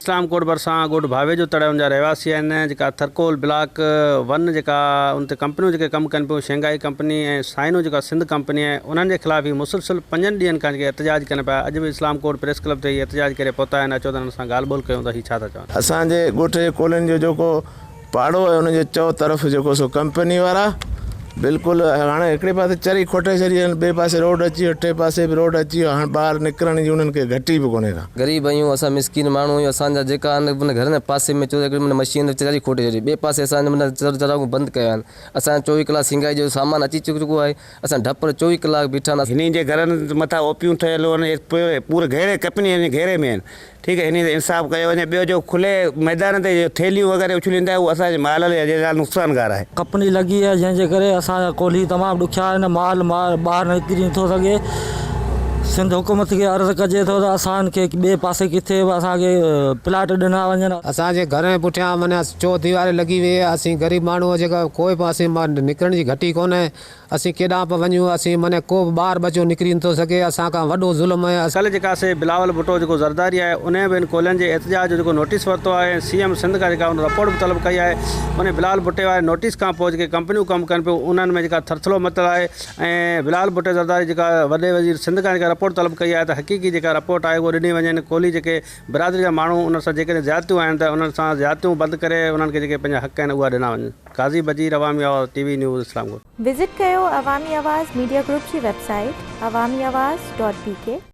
اسلام ڪوٽ ڀرسان ڳوٺ ڀاوي جو تڙ ان جا رهواسي آهن جيڪا ٿرڪول بلاڪ ون جيڪا ان تي ڪمپنيون جيڪي ڪم ڪن پيون شينگائي ڪمپني ۽ سائنو جيڪا سنڌ ڪمپني آهي انهن جي خلاف هي مسلسل پنجن ڏينهن کان جيڪي احتجاج ڪن پيا اڄ به اسلام ڪوٽ پريس ڪلب تي هي احتجاج ڪري پهتا آهن اچو ته انهن سان ڳالهه ٻولهه ڪيون ته هي ڇا ٿا چون. اسان جي ڳوٺ جي ڪولين جو جيڪو پاڙو ۽ ان جي چؤ طرف جيڪو سو ڪمپني وارا بلڪل هاڻي هڪڙي پاسي چري کوٽي ڇڏي آهن ٻئي پاسي روڊ اچي ويو ٽي پاسي به روڊ اچي ويو هاڻ ٻاهر نڪرڻ جي انهن کي گهٽي به ڪونهي ڪا. غريب آهيون اسان مسڪين ماڻهو آهيون اسان جا جيڪا آهن من گهر ۾ پاسي ۾ چوري ڪري مشين چري کوٽي ڇڏي ٻئي پاسي اسان جا من چر چراغون بند ڪيا آهن اسان جا چوويهه ڪلاڪ سينگائي جو سامان اچي چڪو آهي اسان ڊپ ۾ چوويهه ڪلاڪ بيٺا آهن. هنن جي گهرن مٿان اوپيون ٺهيل آهن اهي پوري گهيري ڪمپني جي گهيري ۾ آهن ٺيڪ آهي انهي تي انصاف ڪيو وڃي ٻيو جو کلي ميدان تي جو ٿيلهيون وغيره اڇلين ٿا اهو اسان جي مال لاء جي لاء نقصان گار آهي. ڪپني لڳي آهي جنهن جي ڪري اسان جا ڪولهي تمام ڏکيا آهن مال ٻاهر نڪري نٿو سگهي سنڌ حڪومت کي عرض ڪجي ٿو ته اسان کي ٻئي پاسي ڪٿي به اسان کي پلاٽ ڏنا وڃن. اسان جي گهرن جي پٺيان معنيٰ چوه ديواري لڳي وئي آهي اسين غريب ماڻهو جيڪا ڪوئي پاسي مان نڪرڻ جي گهٽي ڪونهي. اسين ڪيڏانهن پيا وڃون، اسين مان ڪو به ٻار ٻچو نڪري نٿو سگهي، اسان کان وڏو ظلم ۽. ڪلهه جيڪا سي بلاول ڀٽو جيڪو زرداري آهي انهين به ان ڪولهين جي احتجاج جو جيڪو نوٽيس ورتو آهي ۽ سي ايم سنڌ کان جيڪا ان رپورٽ به طلب ڪئي آهي انهين بلاول ڀٽي واري نوٽيس کان پوء جيڪي ڪمپنيون ڪم ڪن پيون انهن ۾ جيڪا ٿرٿلو متل آهي ۽ بلاول ڀٽي زرداري جيڪا وڏي وزير سنڌ کان جيڪا رپورٽ طلب ڪئي آهي ته حقيقي جيڪا رپورٽ آهي اهو ڏني وڃين ڪولهي جيڪي برادري جا ماڻهون انهن سان جيڪڏهن زيادتيون آهن ته انهن سان زيادتيون بند ڪري انهن کي جيڪي پنهنجا حق آهن اهو ڏنا وڃن. قاضي Badir Awami Awaz T V news Islamkot. Visit ڪيو عوامي آواز ميڊيا گروپ جي website Awami Awaz dot بي ڪي.